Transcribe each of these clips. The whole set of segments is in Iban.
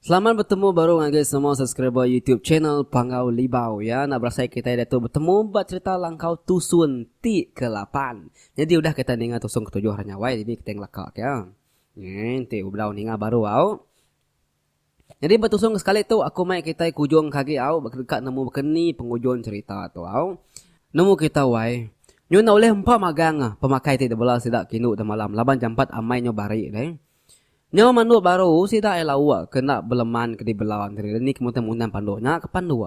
Selamat betemu baru ngagai semua subscriber YouTube channel Panggau Libau ya. Enda berasai kitai diatu betemu ba cerita langkau tusun ti ke lapan. Nyadi udah kitai ninga tusun ke tujuh hari nya wai dini kitai ngelaka ke. Nge, enti bebedau ninga baru au. Nyadi betusung ke sekali tu aku mai kitai ke ujung ke agi au baka deka nemu baka ni pengujung cerita tu au. Nemu kita wai. Nyu enda ulih empa magang ah pemakai ti dibela sida ke indu demalam laban jampat amai nyu bari deh. Nyau mandu baru sida ai lauk ke enda beleman ke dibela enteri deh ni ke muntang mundang pandu nya ke pandu.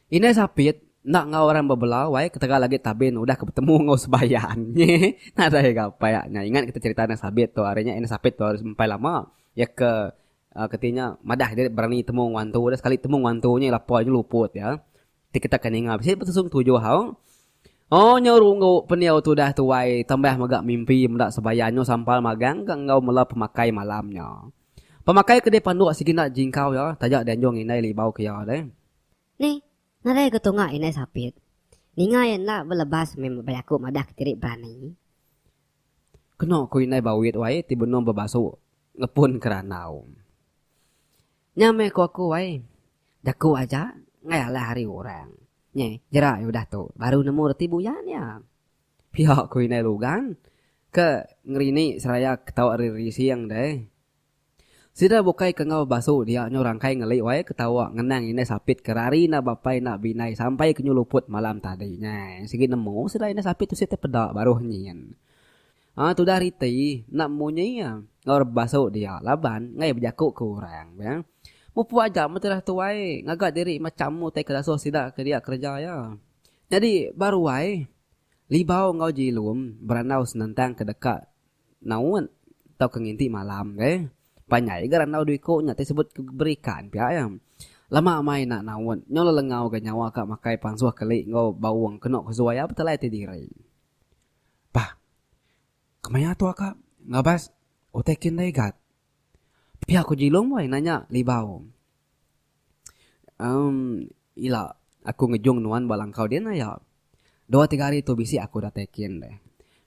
Indai Sapit enda enggau orang bebelau ai ketegal agi Tabin udah ke betemu enggau Sebayan. Nyeh. Nadai ga apai ak nya ingat ke cerita Indai Sabit tu ari nya Indai Sapit tu ari sempai lama iya ke keti nya madah diri berani temu enggau antu udah sekali temu enggau antu nya lapar nya luput iya. Ti kita ke ninga bisi betusung tujuh au. Oh nya runggu pendiau tu udah tuai tambah mega mimpi meda Sebayan nya sampal magang ke enggau mela pemakai malam nya. Pemakai ke dipanduk Siginat Jingkau iya taja dianjung indai Libau ke iya alai. Ni ngagai ke tunga indai Sapit ninga iya enda belebas meh bejaku madah ketiri berani? Kenu ku indai Bawit wai ti benung bebasu ngepun ke randau. Nya meh ku aku wai, jaku aja enggai alai hari orang. Nyeh, jera iya udah tu baru nemu reti buyan iya. Pia ku indai Lugan ke ngerini seraya ketawa ari rising deh. Sida bukai ke enggau basu dia nyau rangkai ngeli wai ketawa ngenang indai Sapit ke rari enda bapai enda bindai sampai ke nyu luput malam tadi nyai. Sigi nemu sida indai Sapit tu sitai peda baruh nyin. Aa tudah riti enda munyi iya enggau basu dia laban enggai bejaku ke orang be. Mupuk aja meh tudah tuai ngaga diri macham utai ke dasuh sida ke dia kereja iya. Nyadi baru ai, Libau enggau Jilum berandau senentang ke deka naut tauka nginti malam ke. Panjai ga randau dua iku nya ti sebut ke berikan pia iya. Lama amai enda naut, nyau lelengau ga nyawa ka makai pansuh keli enggau baung kenu ke suai iya betelai ti diri. Bah, kemaya tu aka ngabas utai kin daigat. Pia ku Jilong boy nanya Libau. Emm ila aku ngejung nuan ba langkau din aya. Dua tiga hari tu bisi aku datai kin deh.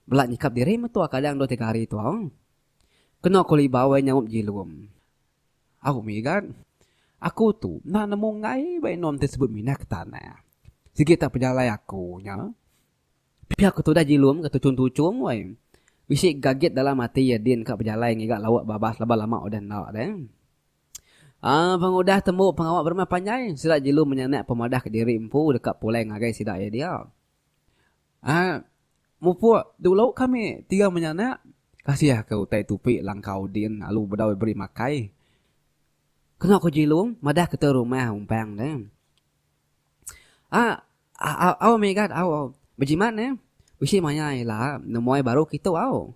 Bela nyikap diri metua kadang dua tiga hari tau. Keno ku Libau boy nyaup Jilong. Au mih gat. Aku tu enda nemu enggai ba inum ti sebut minah ke tanah. Sigi tak pejalai aku nya. Pia ke tudah Jilum ke tuchum-tuchum wai. Bisi gagit dalam ati iya din ka bejalai ngiga lauk babas laban lama udah enda deh. Aa pengudah tembu pengawa berumah panjai, sida Jilum menyanak pemadah ke diri empu deka pulai ngagai sida iya dia. Aa mupuk dulu kami tiga menyanak. Kasih ke utai tupi langkau din alu bedau beri makai. Kena ku Jilum madah ke te rumah umpang deh. Ah ah au mega au au bejimat neh bisi maya ila nemuai baru kitu au.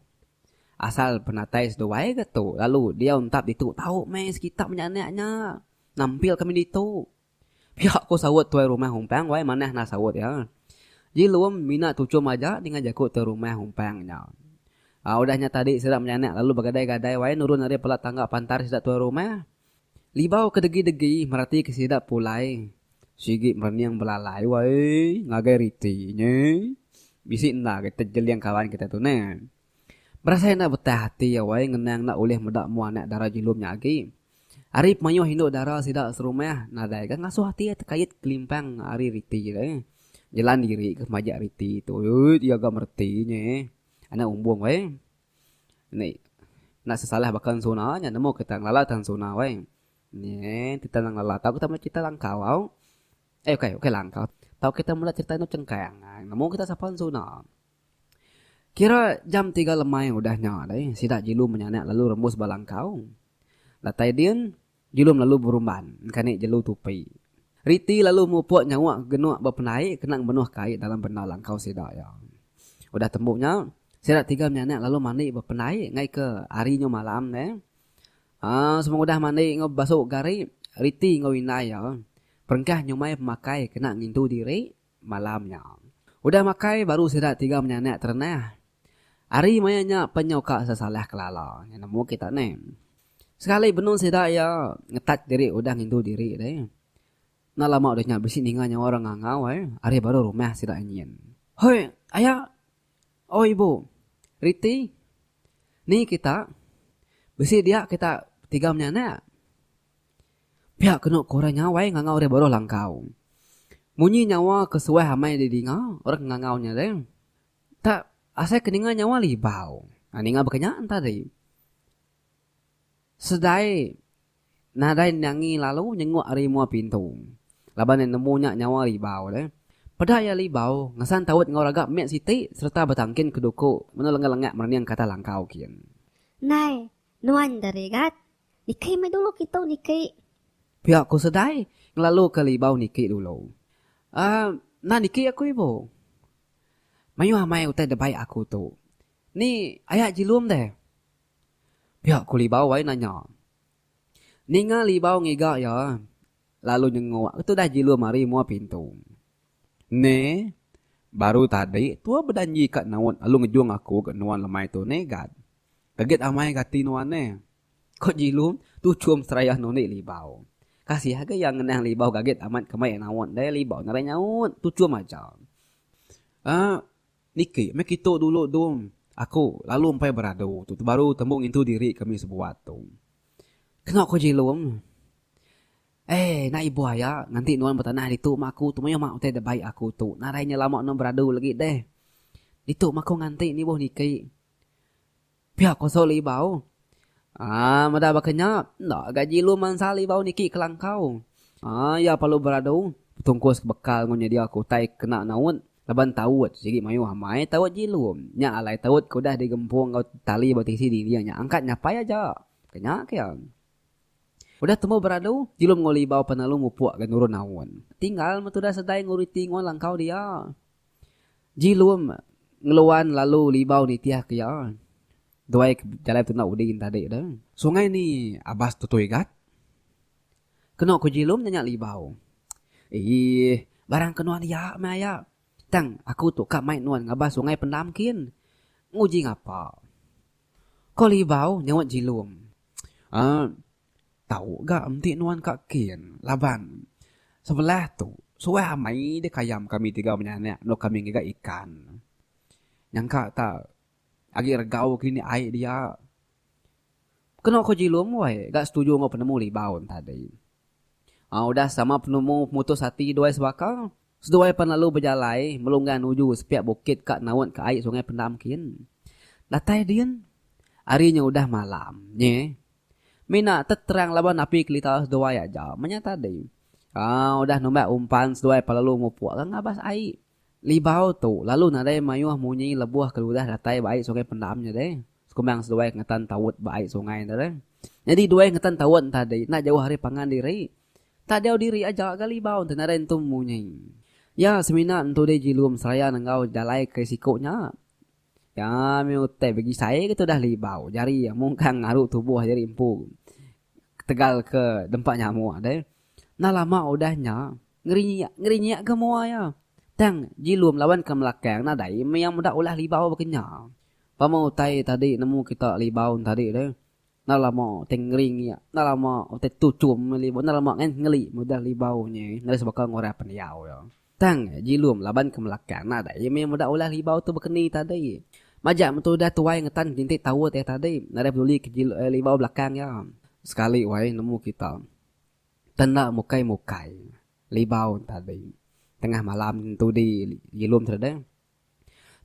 Asal penatai seduai ga tu lalu diau entap ditu tau meh sekita menya anak nya nampil kami ditu. Pia ku saut tuai rumah Umpang wai manah nah saut iya. Ji lum mina tuchum aja ninga jaku tuai rumah Umpang nya. Udah nya tadi sida menya anak lalu begadai-gadai wai nurun ari palat tangga pantar sida tuai rumah. Libau ke degi-degi meratika sida pulai. Sigi merening belalai wai ngagai riti nya. Bisi enda agi tejeling kawan kita tu neh. Berasai enda betah ati awai ngenang enda ulih meda mua anak dara Jilum nya agi. Ari pemayuh indu dara sida serumah nadai ga ngasuh ati iya tekait kelimpang ari riti tu. Jelan diri ga majak riti tu iya ga mereti nya. Anak umbung wai. Ni enda sesalah baka ensuna nya nemu kita ngelala tang ensuna weh. Nyen kita nang ngelala tau kita mula cerita langkau au. Eh ukai ukai langkau. Tau kita mula cerita anu cengkang ai nemu kita sapa ensuna. Kira jam tiga lemai udah nya deh sida jilu menyanak lalu rembus ba langkau. Datai din. Julum lalu berumban engkani jelu tupi. Riti lalu mupuk nyawa genuk bependai kena ngemenuh kai dalam bendar langkau sida iya. Udah tembu nya, sida tiga mianak lalu mandi bependai ngai ke ari nyu malam neh. Aaa semua udah mandi enggau bebasu gari, Riti enggau indai iya perengkah nyumai pemakai kena ngintu diri Malam nya. Udah makai baru sida tiga menyanak terendah. Ari maya nya penyu ka sesalah kelala. Nya nemu kita neh. Sekali benung sida iya ngetat diri udah ngindu diri deh. Enda lama udah nya bisi ninga nyawa orang ngangau ai ari baruh rumah sida nyin. Hoi, aya. Oi ibu. Riti. Ni kita. Bisi dia kita tiga menyanak. Pia kenu ku orang Nyawai ngangau ari baruh langkau. Munyi nyawa ke suah amai didinga orang ke ngangau nya re. Tang asai ke ninga nyawa libau. Nah ninga baka nya enta deh. Sedai nadai nyangi lalu nyenguk ari mua pintu. Laban iya nemu nya nyawa libau re. Peda iya libau ngesan taut enggau raga mit siti sereta betangkin ke duku menu lengah lengak merening kata langkau kin. Nai, Nuan Darigat, nikei meh dulu kitu nikei. Pia ku Sedai ngelalu ke Libau nikei dulu. Aaa nah nikei aku ibu. Mayuh amai utai debai aku tu. Ni aya jilum deh. Pia ku Libau ai nanya. Ninga Libau ngiga iya lalu nyenguk ke tudah jilum ari mua pintu. Ne, baru tadi tua bedanji ka naut lalu ngejung aku ke nuan lemai tu ne Gat. Kaget amai kati nuan ne. Ko Jilum tu chum serayah nundi Libau. Kasih age iya ngenang Libau kaget amat ke mai iya naut ndai Libau nadai nyaut tu chum aja. Aa niki meh kitu dulu Dum aku lalu empai beradu tu tu baru tembu ngintu diri kami sebuat tu. Keno ko Jilum. Ei enda ibuh aya nganti nuan betanah ditu ma aku tu mayuh ma utai da baik aku tu nadai nya lama nuan beradu lagi deh. Ditu ma aku nganti nibuh niki Pia kosok libau. Haa meda baka nya enda ga jilu mansa libau niki kelangkau. Haa iya perlu beradu betungkus bekal enggau nyedia ke utai kena naut laban taut sigi mayuh amai taut jilu nya alai taut ke udah digempung enggau tali ba tisi dinding nya angkat nyapai aja ke nya ke iya. Udah tembu beradu jilum enggau libau penalu mupuk ga nurun naut. Tinggal metu udah sedai enggau reti enggau langkau dia. Jilum ngeluan lalu libau nitihka iya duai ke jalai betuna udi inta dik de. Sungai ni abas tutui gat. Kenu ku Jilum nanya libau. Eeh barang ke nuan iya meh aya. Tang aku tu ka mai nuan ngabas sungai pendam kin. Nguji ngapa? Ko libau nyaut Jilum. Eeh. Tau ga enti nuan ka kin laban sebelah tu suah amai dik ayam kami tiga menyanak nuk kami ngiga ikan. Nyangka ta agi regau kini ai dia. Kenu ko Jilum wai ga setuju enggau penemu Libau en tadi. Au udah sama penemu pemutus ati duai sebaka, seduai pan lalu bejalai melunggang nuju sepiak bukit ka naut ka ai Sungai Pendam kin. Datai din ari nya udah malam nyi. Mina teterang laban api kelita seduai aja menya tadi. Aaa udah numbat umpan seduai pelalu mupuk ka ngabas ai. Libau tu lalu nadai mayuh munyi lebuh keludah datai ba ai sungai pendam nya deh. Sekumbang seduai ngetan tawut ba ai sungai enda deh. Nyadi duai ngetan tawut entadi enda jauh ari pangan diri. Tak jauh diri aja ga libau enti nadai entum munyi. Ya semina entu deh Jilum seraya nenggau jalai ke siku nya. Kami utai begisai ke tudah libau jari mungkang ngaru tubuh jari empu ketegal ke dempa nyamuk deh. Nah lama udah nya ngerinyak ngerinyak ke mua iya. Tang jilum laban ke melakang nah dai mia meda ulah libau baka nya. Pama utai tadi nemu kita libau tadi deh. Nah lama utai ngerinyak nah lama utai tuchum meli lama ngeli meda libau nya ngeri sebaka orang pendiau iya. Tang Jilum laban ke Melaka nadai iya meh meda ulah Libau tu bekeni tadi. Majak metu udah tuai ngetan kerintik taut iya tadi nadai peduli ke Libau belakang iya. Sekali wai nemu kita te enda mukai-mukai Libau tadi. Tengah malam tudi Jilum te deh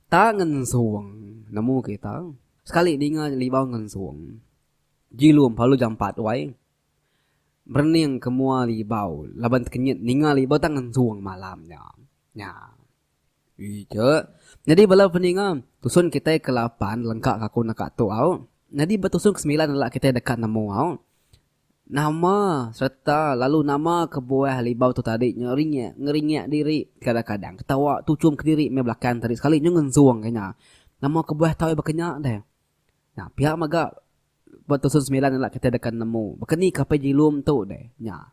ta ngensung nemu kita. Sekali dinga Libau ngensung Jilum pelalu jampat wai. Merening ke mua lagi bau laban tekenyit ninga lagi bau tangan suang malam nya. Nya. Ija. Nyadi bala peninga, tusun kitai ke lapan lengka ka aku naka tu au. Nyadi ba tusun ke semilan enda kitai deka nemu au. Nama sereta lalu nama kebuah libau tu tadi nya ringik ngeringik diri kadang-kadang ketawa tuchum kediri meh belakang tadi sekali nyu ngensung ke nya. Nama kebuah tau baka nya deh. Nya pia mega Ba tusun semilan ila kitai deka nemu baka ni kapai jilum tu deh nya.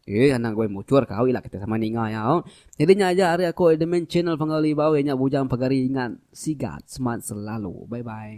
Ih anang goi muchur kau ila kitai sama ninga iya oh. Nyadi nya aja ari aku admin channel Fangau Libau iya nya bujang pagari ingat sigat smart selalu. Bye bye.